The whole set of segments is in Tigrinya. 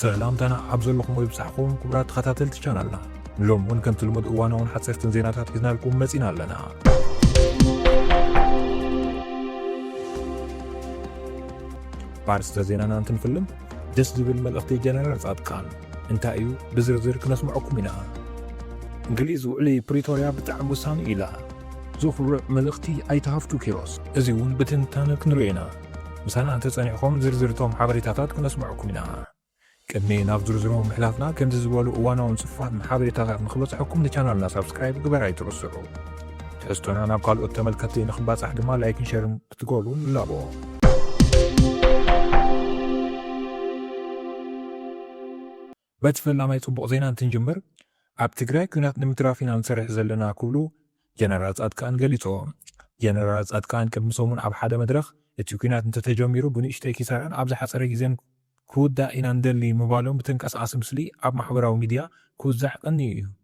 ሰላምታና ኣብ ዘለኹም ይብጻሕኩም ክቡራት ተኸታተልቲ ቻናልና ሎም እውን ከምቲ ልሙድ እዋናውን ሓፀርትን ዜናታት ሒዝናልኩም መፂና ኣለና ባርስተ ዜናና እንትንፍልም ደስ ዝብል መልእኽቲ ጀነራል ጻድቃን እንታይ እዩ ብዝርዝር ክነስምዐኩም ኢና። እንግሊዝ ውዕሊ ፕሪቶርያ ብጣዕሚ ውሳኒ እዩ ኢላ። ዘኹርዕ መልእኽቲ ኣይተ ሃፍቱ ኪሮስ። እዚ እውን ብትንታነ ክንሪኦ ኢና። ምሳና እንተፀኒሕኹም ዝርዝር እቶም ሓበሬታታት ክነስምዐኩም ኢና። ቅድሚ ናብ ዝርዝሮም ምሕላፍና ከምዚ ዝበሉ እዋናውን ፅፉፋትን ሓበሬታታት ንክበፅሐኩም ንቻናልና ሳብስክራይብ ግበር ኣይትረስዑ። ትሕዝቶና ናብ ካልኦት ተመልከትቲ ንክባፃሕ ድማ ላይክን ሸርን ክትገብሩ ንላቦ። በቲ ፈላማይ ፅቡቕ ዜና እንትንጅምር፣ ኣብ ትግራይ ኲናት ንምትራፍ ኢና ንሰርሕ ዘለና ክብሉ ጀነራል ፃድቃን ገሊፆም። ጀነራል ፃድቃን ቅድሚ ሰሙን ኣብ ሓደ መድረኽ እቲ ኲናት እንተተጀሚሩ ብንእሽተይ ኪሳራን ኣብ ዝሓፀረ ግዜን ክውዳእ ኢና ንደሊ ምባሎም ብተንቀሳቓሲ ምስሊ ኣብ ማሕበራዊ ሚዲያ ክውዛሕ ቀንዩ እዩ።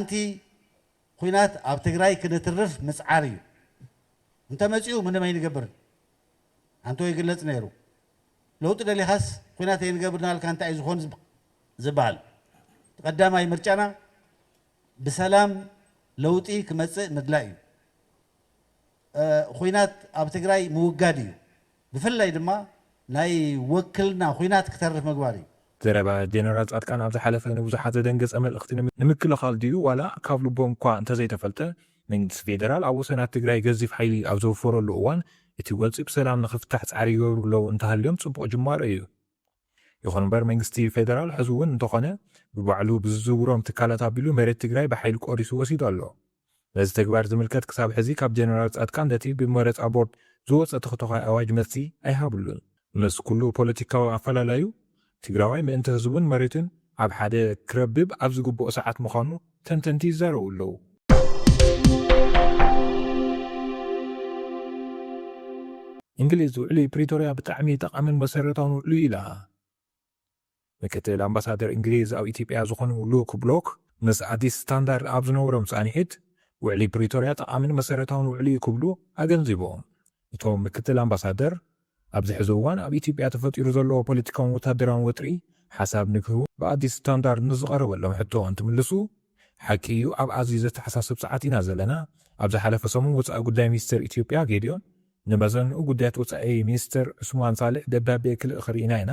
ኣንቲ ኹናት ኣብ ትግራይ ክንትርፍ ምፅዓር እዩ እንተመፂኡ ምንም ኣይንገብርን ኣንቶ ይግለፅ ነይሩ ለውጢ ደሊኻስ ኹናት ኣይንገብርን ኣልካ እንታይ እዩ ዝኾን ዝባሃል ትቀዳማይ ምርጫና ብሰላም ለውጢ ክመፅእ ምድላይ እዩ ኹናት ኣብ ትግራይ ምውጋድ እዩ ብፍላይ ድማ ናይ ወክልና ኹናት ክተርፍ ምግባር እዩ። ዘረባ ጀነራል ፃድቃን ኣብ ዝሓለፈ ንብዙሓት ዘደንገፀ መልእኽቲ ንምክልኻል ድዩ ዋላ ካብ ልቦም እኳ እንተዘይተፈልጠ መንግስቲ ፌደራል ኣብ ወሰናት ትግራይ ገዚፍ ሓይሊ ኣብ ዘውፈረሉ እዋን እቲ ጎንፂ ብሰላም ንኽፍታሕ ፃዕሪ ይገብሩ ኣለው እንተሃልዮም ፅቡቕ ጅማሮ እዩ። ይኹን እምበር መንግስቲ ፌደራል ሕዚ እውን እንተኾነ ብባዕሉ ብዝዝውሮም ትካላት ኣቢሉ መሬት ትግራይ ብሓይሊ ቆሪሱ ወሲዱ ኣሎ። ነዚ ተግባር ዝምልከት ክሳብ ሕዚ ካብ ጀነራል ፃድቃን ነቲ ብመረፃ ቦርድ ዝወፀ ተኽቶዃይ ኣዋጅ መልሲ ኣይሃብሉን። ምስ ኩሉ ፖለቲካዊ ኣፈላላዩ ትግራዋይ ምእንቲ ህዝቡን መሬቱን ኣብ ሓደ ክረብብ ኣብ ዝግብኦ ሰዓት ምዃኑ፣ ተንተንቲ ይዛረቡ ኣለዉ። እንግሊዝ ውዕሊ ፕሪቶርያ ብጣዕሚ ጠቓምን መሰረታውን ውዕሊ'ዩ ኢላ። ምክትል ኣምባሳደር እንግሊዝ ኣብ ኢትዮጵያ ዝኾኑ ሉክ ብሎክ ምስ ኣዲስ ስታንዳርድ ኣብ ዝነበሮም ፃንሒት ውዕሊ ፕሪቶርያ ጠቓምን መሰረታውን ውዕሊ'ዩ ክብሉ ኣገንዚቦም። እቶም ምክትል ኣምባሳደር፣ ኣብዚ ሕዚ እዋን ኣብ ኢትዮጵያ ተፈጢሩ ዘሎ ፖለቲካውን ወታደራውን ወጥሪ ሓሳብ ንክህቡ ብኣዲስ ስታንዳርድ ንዝቐረበሎም ሕቶ እንትምልሱ፣ ሓቂ እዩ ኣብ ኣዝዩ ዘተሓሳስብ ሰዓት ኢና ዘለና፣ ኣብ ዝሓለፈ ሰሙን ወፃኢ ጉዳይ ሚኒስቴር ኢትዮጵያ ጌዲዮን ንመዘንኡ ጉዳያት ወፃኢ ሚኒስትር ዑስማን ሳልሕ ደብዳቤ ክልእኽ ርኢና ኢና፣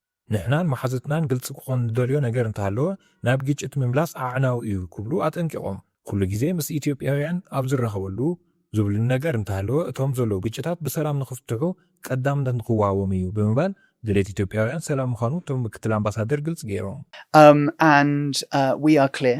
ንሕናን መሓዙትናን ግልፂ ክኾን ንደልዮ ነገር እንተሃለወ ናብ ግጭት ምምላስ ኣዕናዊ እዩ ክብሉ ኣጠንቂቖም። ኩሉ ግዜ ምስ ኢትዮጵያውያን ኣብ ዝራኸበሉ ዝብሉኒ ነገር እንተሃለወ እቶም ዘለዉ ግጭታት ብሰላም ንኽፍትሑ ቀዳምነት ንኽወሃቦም እዩ ብምባል ድሌት ኢትዮጵያውያን ሰላም ምዃኑ እቶም ምክትል ኣምባሳደር ግልፂ ገይሮም። And we are clear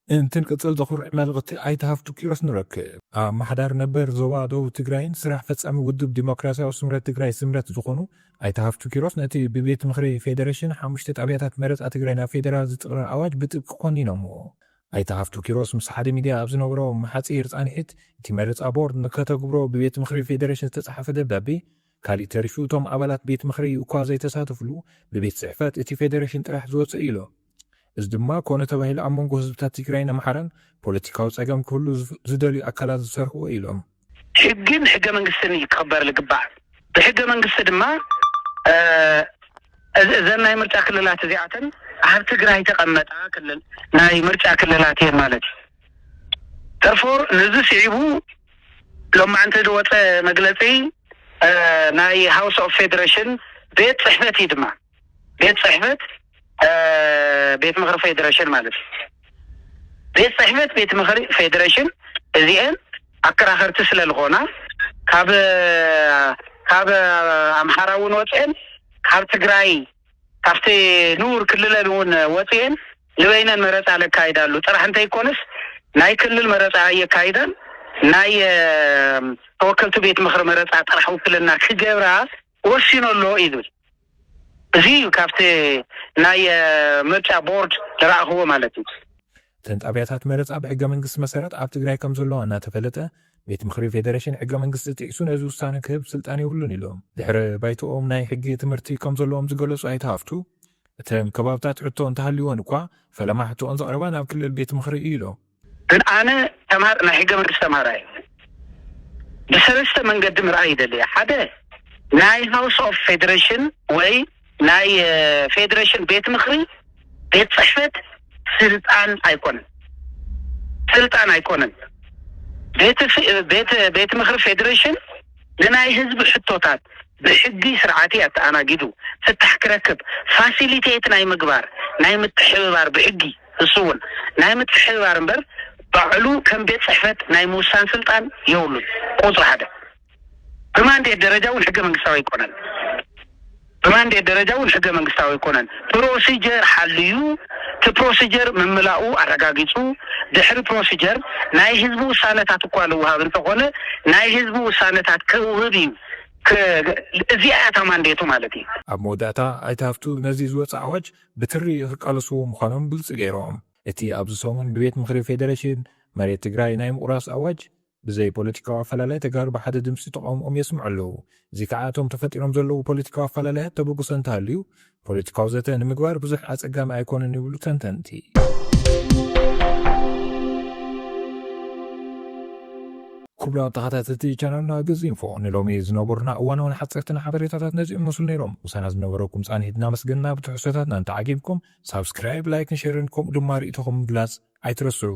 እንትንቅፅል ዘኹርዕ መልእኽቲ ኣይተ ሃፍቱ ኪሮስ ንረክብ። ኣማሓዳሪ ነበር ዞባ ደቡብ ትግራይን ስራሕ ፈፃሚ ውድብ ዲሞክራሲያዊ ስምረት ትግራይ፣ ስምረት፣ ዝኾኑ ኣይተ ሃፍቱ ኪሮስ ነቲ ብቤት ምኽሪ ፌዴሬሽን ሓሙሽተ ጣብያታት መረፃ ትግራይ ናብ ፌዴራል ዝጥቕልል ኣዋጅ ብጥብቂ ኮኒኖምዎ። ኣይተ ሃፍቱ ኪሮስ ምስ ሓደ ሚድያ ኣብ ዝነበሮም ሓፂር ፃንሒት እቲ መረፃ ቦርድ ንከተግብሮ ብቤት ምኽሪ ፌዴሬሽን ዝተፅሓፈ ደብዳቤ ካሊእ ተሪፉ እቶም ኣባላት ቤት ምኽሪ እኳ ዘይተሳተፍሉ ብቤት ፅሕፈት እቲ ፌዴሬሽን ጥራሕ ዝወፅእ እዩ ኢሎም። እዚ ድማ ኮነ ተባሂሉ ኣብ መንጎ ህዝብታት ትግራይን ኣምሓራን ፖለቲካዊ ፀገም ክህሉ ዝደልዩ ኣካላት ዝሰርሕዎ እዩ ኢሎም። ሕግን ሕገ መንግስትን እዩ ክኽበር ልግባእ። ብሕገ መንግስቲ ድማ እዘን ናይ ምርጫ ክልላት እዚኣተን ኣብ ትግራይ ተቐመጣ ክልል ናይ ምርጫ ክልላት እየን ማለት እዩ። ተርፎር ንዚ ስዒቡ ሎማዕንቲ ዝወፀ መግለፂ ናይ ሃውስ ኦፍ ፌዴሬሽን ቤት ፅሕፈት እዩ ድማ። ቤት ፅሕፈት ቤት ምኽሪ ፌዴሬሽን ማለት እዩ። ቤት ፅሕፈት ቤት ምኽሪ ፌዴሬሽን እዚኤን ኣከራኸርቲ ስለልኾና ካብ ካብ ኣምሓራ እውን ወፅኤን ካብ ትግራይ ካብቲ ንቡር ክልለን እውን ወፅኤን ንበይነን መረፃ ለካይዳሉ ጥራሕ እንተይኮነስ ናይ ክልል መረፃ ኣየካይዳን ናይ ተወከልቲ ቤት ምኽሪ መረፃ ጥራሕ ውክልና ክገብራ ወሲኑ ኣሎ እዩ ዝብል። እዚ እዩ ካብቲ ናይ ምርጫ ቦርድ ዝረኣኽዎ ማለት እዩ። እተን ጣብያታት መረፃ ብሕገ መንግስቲ መሰረት ኣብ ትግራይ ከምዘለዋ እናተፈለጠ ቤት ምኽሪ ፌደሬሽን ሕገ መንግስቲ ጢሒሱ ነዚ ውሳነ ክህብ ስልጣን የብሉን ኢሎም። ድሕረ ባይተኦም ናይ ሕጊ ትምህርቲ ከምዘለዎም ዝገለፁ ኣይተ ሃፍቱ፣ እተን ከባብታት ሕቶ እንተሃልዩወን እኳ ፈለማ ሕቶኦን ዘቕረባ ናብ ክልል ቤት ምኽሪ እዩ ኢሎም። ግን ኣነ ተማር ናይ ሕገ መንግስት ተማሃራይ ብሰለስተ መንገዲ ምርኣይ ይደሊ እየ ሓደ ናይ ሃውስ ኦፍ ፌደረሽን ወይ ናይ ፌደረሽን ቤት ምክሪ ቤት ጽሕፈት ስልጣን ኣይኮነን ስልጣን ኣይኮነን ቤት ምክሪ ፌደረሽን ንናይ ህዝቢ ሕቶታት ብሕጊ ስርዓቲ ኣተኣናጊዱ ፍታሕ ክረክብ ፋሲሊቴት ናይ ምግባር ናይ ምትሕብባር ብሕጊ ንሱ'ውን ናይ ምትሕብባር እምበር ባዕሉ ከም ቤት ጽሕፈት ናይ ምውሳን ስልጣን የብሉን። ቁጽሪ ሓደ። ብማንዴት ደረጃ እውን ሕገ መንግስታዊ ኣይኮነን። ብማንዴት ደረጃ እውን ሕገ መንግስታዊ ኣይኮነን። ፕሮሲጀር ሓልዩ፣ እቲ ፕሮሲጀር ምምላኡ ኣረጋጊጹ፣ ድሕሪ ፕሮሲጀር ናይ ህዝቢ ውሳነታት እኳ ልውሃብ እንተኾነ ናይ ህዝቢ ውሳነታት ከውህብ እዩ። እዚኣ እያ እታ ማንዴቱ ማለት እዩ። ኣብ መወዳእታ ኣይተ ሃፍቱ ነዚ ዝወጸ ኣዋጅ ብትሪ ክቃለሱ ምዃኖም ግልፂ ገይሮም። እቲ ኣብዚ ሰሙን ብቤት ምኽሪ ፌዴሬሽን መሬት ትግራይ ናይ ምቑራስ ኣዋጅ ብዘይ ፖለቲካዊ ኣፈላላይ ተጋሩ ብሓደ ድምፂ ተቓውምኦም የስምዑ ኣለው። እዚ ከዓ እቶም ተፈጢሮም ዘለው ፖለቲካዊ ኣፈላላያት ተበግሶ እንተሃልዩ ፖለቲካዊ ዘተ ንምግባር ብዙሕ ኣፀጋሚ ኣይኮነን ይብሉ ተንተንቲ። ኩቡራት ተኻታተልቲ ቻናልና ግዚ ኢንፎ ንሎሚ ዝነበሩና እዋናውን ሓጸርትን ሓበሬታታት ነዚኦም ይመስሉ ነይሮም። ምሳና ዝነበረኩም ጻኒት እናመስገንና ብትሕዝቶታትና እንተዓጊብኩም ሳብስክራይብ፣ ላይክን ሸርን ከምኡ ድማ ርኢቶኹም ምግላጽ ኣይትረስዑ።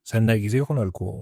ሰናይ ግዜ ይኹነልኩም።